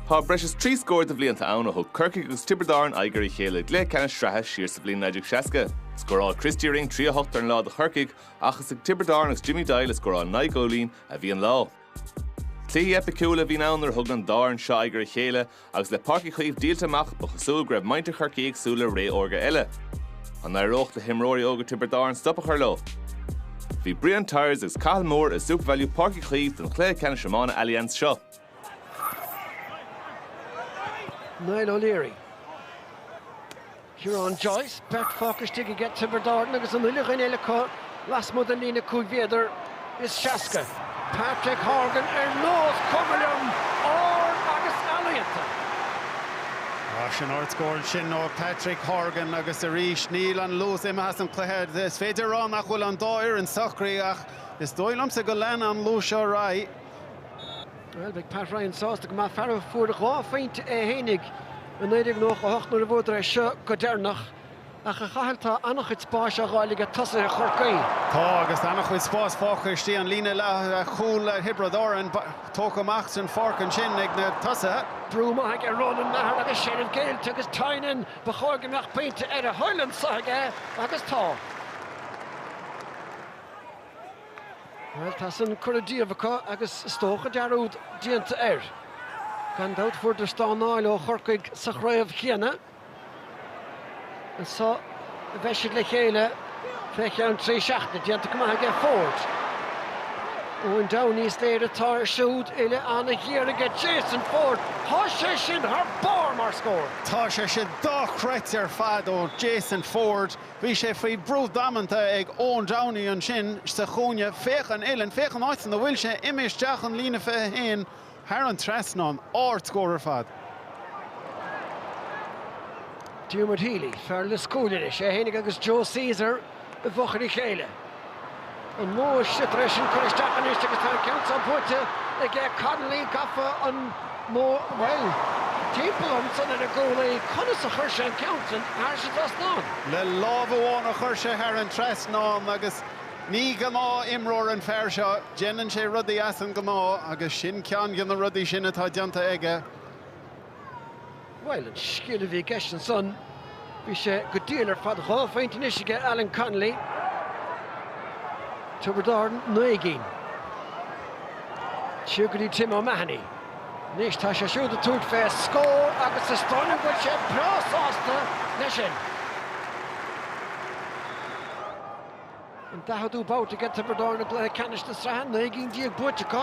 Tá breis is trí scór de bhlianta ann ó thug Corcaigh agus Tiobraid Árann aghaidh ar a chéile i gcluiche ceannais sraithe siar sa bhliain 1960. Scóráil Christy Ring trí a hocht ar an lá do Chorcaigh ach is ag Tiobraid Árann agus Jimmy Doyle a scóráil naoi gcúilín a bhí an lá. Cluichí eipiciúla a bhí ann nuair a thug an dá fhoireann seo aghaidh ar a chéile agus le Páirc Uí Chaoimh díolta amach ba chosúil go raibh muintir Chorcaí ag súil le ré órga eile. An n-éireodh le himreoirí óga Tiobraid Árann stop a chur leo? Bhí Brian Tyers agus Cathal Moore i Supervalu Páirc Uí Chaoimh don chluiche ceannais iomána Allianz seo. Niall O'Leary. Ciarán Joyce, beirt fágtha istigh aige, Tiobraid Árann agus an uile dhuine eile acu lasmuigh den líne cúig mhéadar is seasca. Patrick Horgan, ar nós cuma liom, ard agus ealaíonta. Tá sin. Ardscór ansin ó Patrick Horgan agus arís níl an luas imithe as an chluiche. Is féidir a rá nach bhfuil an dá fhoireann socraithe ach is dóigh liomsa go lean an luas seo ar aghaidh. Bhuel, beidh Pat Ryan sásta go maith, fear a fuair dhá phointe é fhéinig i 1998 nuair a bhuadar é seo go deireanach. Ach, a Chathail, tá an-chuid spáis á fháil aige tosaithe Chorcaí. Tá, agus an-chuid spáis fágtha istigh an líne leathchúil ag Thiobraid Árann. Tógtha amach den pháirc ansin ag na tosaithe. Brú maith aige Ronan Maher agus seilbh géillte agus Tynan. Ba chóir go mbeadh pointe ar a thoil anseo aige, agus tá. Bhuel, tá san curtha díobh acu agus is dócha dearúd déanta air. Gan dabht fuaireadar stánáil ó Chorcaigh sa chraobh chéanna. Anseo a bheidh siad le chéile fé cheann trí seachtaine. Déanta go maith aige Forde. Eoin Downey is léir atá air siúd uille an-ghéar aige Jason Forde. Tá sé sin thar barr mar scór. Tá sé sin dochreidte ar fad ó Jason Forde. Bhí sé faoi bhrú damanta ag Eoin Downey ansin sa chúinne, 'Féach an uillinn, féach an áit ina bhfuil sé, imithe isteach an líne 21 thar an trasnán, ardscór ar fad. Diarmuid Healy, fear Lios Cúil anois, é fhéinig agus Joe Caesar i bhfochair a chéile. an mbóthar siar tar éis an cur isteach anois agus tá an ceann seo buaite aige Connolly gafa an bhuel timpeall ansan ar an gcúlaí conas a chuir sé an ceann sin thar an trasnán? le lámh amháin a chuir sé thar an trasnán agus ní gnáthimreoir an fear seo déanann sé rudaí as an ngnáth agus sin ceann de na rudaí sin atá déanta aige. Bhuel, an scil a bhí i gceist ansan, bhí sé go diail ar fad. Dhá phointe anois aige Alan Connolly, Tiobraid Árann, naoi gcinn. Siar go dtí Tim O'Mahony. Anois tá sé siúd ag tabhairt fé scór agus is dóigh liom go bhfuil sé breá sásta leis sin. an daicheadú babhta aige Tiobraid Árann i gcluiche ceannais na sraithe, naoi gcinn déag buaite acu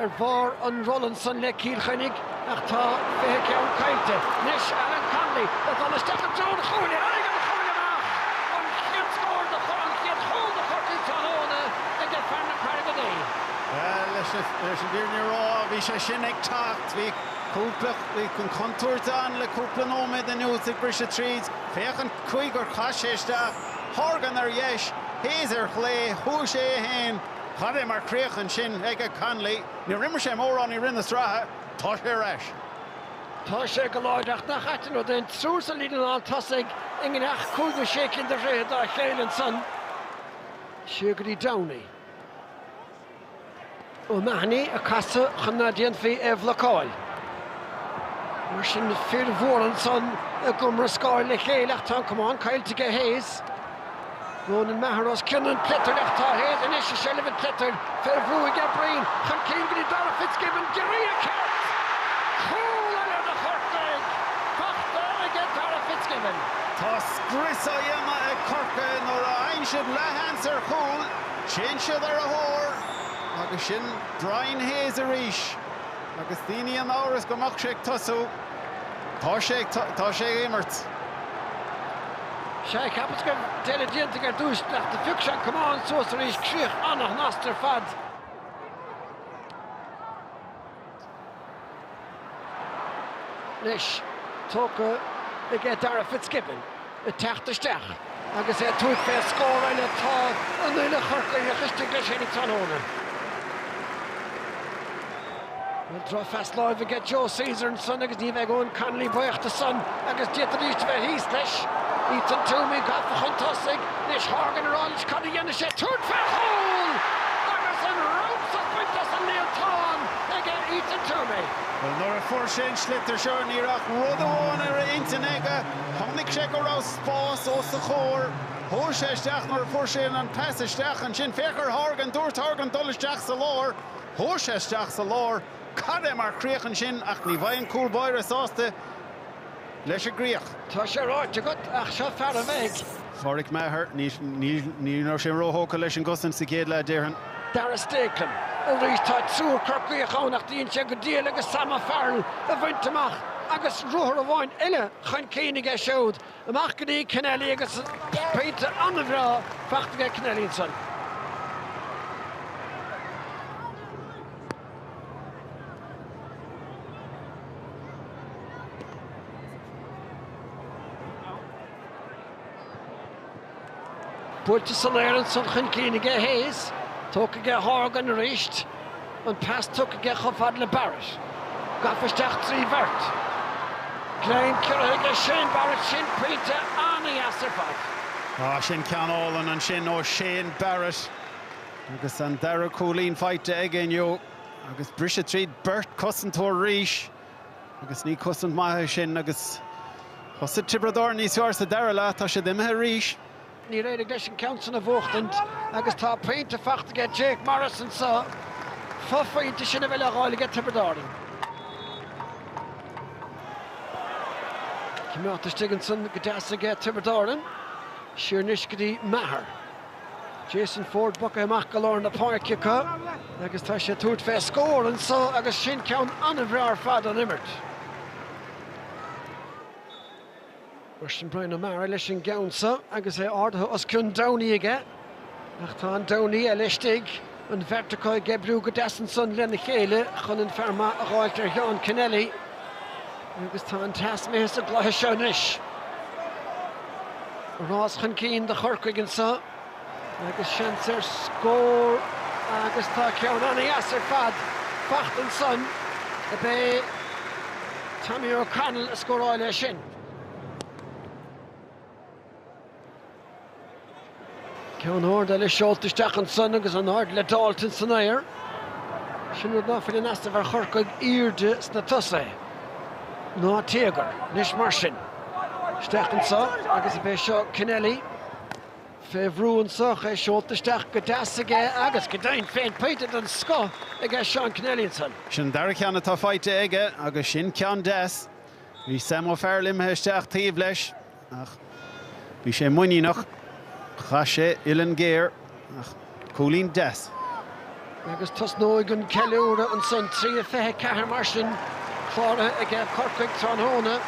ar bharr an rolla san le Cill Chainnigh ach tá fiche ceann caillte. Anois Alan Connolly le dul isteach i dtreo an chúil, ar éigean a chuaigh amach an chéad scór do an chéad chúl do Chorcaigh tráthnóna aige fear na Carraige Duibhe. Bhuel, leis an bhfírinne a rá, bhí sé sin ag teacht. Bhí cúpla, bhí an chontúirt ann le cúpla nóiméad anuas ag briseadh tríd. Féach an chaoi gur chaith sé isteach. Horgan ar dheis, Hayes ar chlé, chuaigh sé é féin. Cad é mar chríoch ansin aige Connolly, Níor imir sé mórán i rith na sraithe, tá sé ar ais. Tá sé go láidir ach nach ait an rud é an triúr sa líne lán tosaigh i ngiorracht 5 nó 6 cinn de throithe dá chéile ansan siar go dtí Downey. O'Mahony ag casadh chun ná déanfaí é a bhlocáil. Mar sin, fir mhóra ansan ag iomrascáil le chéile ach tá an camán caillte aige Hayes. Ronan Maher os cionn an tsliotair ach tá Hayes anois i seilbh an tsliotair. Fé bhrú aige Breen chun cinn go dtí Darragh Fitzgibbon. Iarracht! Cúl eile do Chorcaigh! Fachta aige Darragh Fitzgibbon. Tá scrios á dhéanamh ag Corcaigh nuair a fhaigheann siad leath-sheans ar chúl. Téann siad ar a thóir agus sin Brian Hayes arís agus daoine in amhras go mbeadh sé ag tosú. Tá sé ag tá sé ag imirt. Sea, cheapas go raibh deireadh déanta ar dtús ach do phioc sé an camán suas arís, críoch an-shnasta ar fad. Anois, tógtha aige Darragh Fitzgibbon ag teacht isteach agus é ag tabhairt fé scóráil, tá an-leath curtha isteach leis féin aige tráthnóna. Bhuel, drochphas láimhe aige Joe Caesar ansan agus ní bheidh Eoghan Connolly buíoch dó san agus d'fhéadfaidís a bheith thíos leis. Ethan Twomey gafa chun tosaigh Anois Horgan roimis, cad a dhéanfaidh sé? Tabhairt fé chúl! Agus an-chroitheadh bainte as an líontán aige Ethan Twomey. Bhuel, nuair a fuair sé an sliotar seo, ní raibh ach rud amháin ar a intinn aige. Chonaic sé go raibh spás os a chomhair. Chuaigh sé isteach nuair a fuair sé an pas isteach. Ansin, féach ar Horgan. Dúirt Horgan dul isteach sa lár. Chuaigh sé isteach sa lár. Cad é mar chríoch ansin ach ní bheidh an cúl báire sásta. leis an gcríoch. Tá sé ráite agat, ach seo fear a bheith ag. Pádraic Maher. Ní raibh sé róthógtha leis an gcosaint sa chéad leath, déarfainn. Darragh Stakelum. Arís tá triúr Corcaíoch ann ach dhein sé go diail agus Sam O'Farrell a bhaint amach agus ruathar amháin eile chun cinn aige siúd. Amach go dtí Kenneally agus pointe an-bhreá fachta aige Kenneally ansan. Buailte san aer, ansan chun cinn aige Hayes, tógtha aige Horgan arís, an pas tugtha aige chomh fada le Barrett. Gafa isteach trí bheirt. Greim ciorraithe aige Shane Barrett, sin pointe an-dheas ar fad. Sin ceann álainn ansin ó Shane Barrett. Agus an dara cúilín faighte aige inniu agus briseadh tríd beirt cosantóir arís agus ní cosaint mhaith é sin agus thosaigh Tiobraid Árann níos fearr sa dara leath, tá siad imithe arís. Níor éirigh leis an ceann sin a bhuachtaint agus tá pointe faighte aige Jake Morris anseo, fophointe sin a bheidh le dh'fháil aige Tiobraid Árann. Cimeádta istigh ansan go deas aige Tiobraid Árann, siar anois go dtí Maher. Jason Forde bogtha amach go lár na páirce acu agus tá sé ag tabhairt fé scór anso agus sin ceann an-bhreá ar fad ón imirt. Mar sin Bryan O'Mara leis an gceann so agus é ardaithe os cionn Downey aige ach tá an Downey eile istigh. An bheirt acu ag oibriú go deas ansan lena chéile chun an fear maith a dh'fháilt ar Sheán Kenneally agus tá an teas imithe sa gcluiche seo anois. Rás chun cinn do Chorcaigh anseo agus seans ar scór agus tá ceann an-dheas ar fad faighte ansan. Ab é Tommy O'Connell a scóráil é sin. Ceann ard eile seolta isteach ansan agus an ard le d'fháilt insan aer. Sin rud ná fuil in easnamh ar Chorcaigh, aoirde sna tosaigh. Ná téagar. Anois mar sin. Isteach anso agus ab é seo Kenneally fé bhrú anso, é seolta isteach go deas aige agus, go deimhin féin, pointe den scoth aige Seán Kenneally ansan. Sin an dara ceann atá faighte aige agus sin ceann deas. Bhí Sam O'Farrell imithe isteach taobh leis. Ach bhí sé muiníneach. Chaith sé uillinn géar ach cúilín deas. Agus tosnóidh an ceiliúradh ansan. Trí a fiche ceathair mar sin cláraithe aige Corcaigh tráthnóna.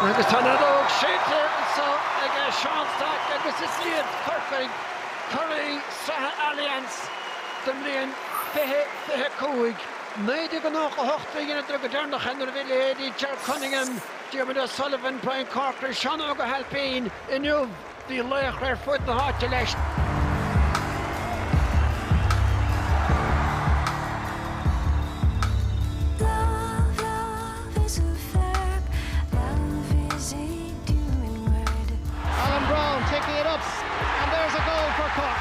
Agus tá an fheadóg séidte anso aige Seán Stack agus is iad Corcaigh curaidh sraithe Allianz don mbliain fiche fiche a cúig. Naoi déag a nócha a hocht a dheineadar go deireanach é nuair a bhí a leithéidí Ger Cunningham, Diarmuid O'Sullivan, Brian Corcoran, Seán Óg Ó hAilpín inniu, Bhí laochra ar fud na háite leis. Alan Browne taking it up and there's a goal for Cork.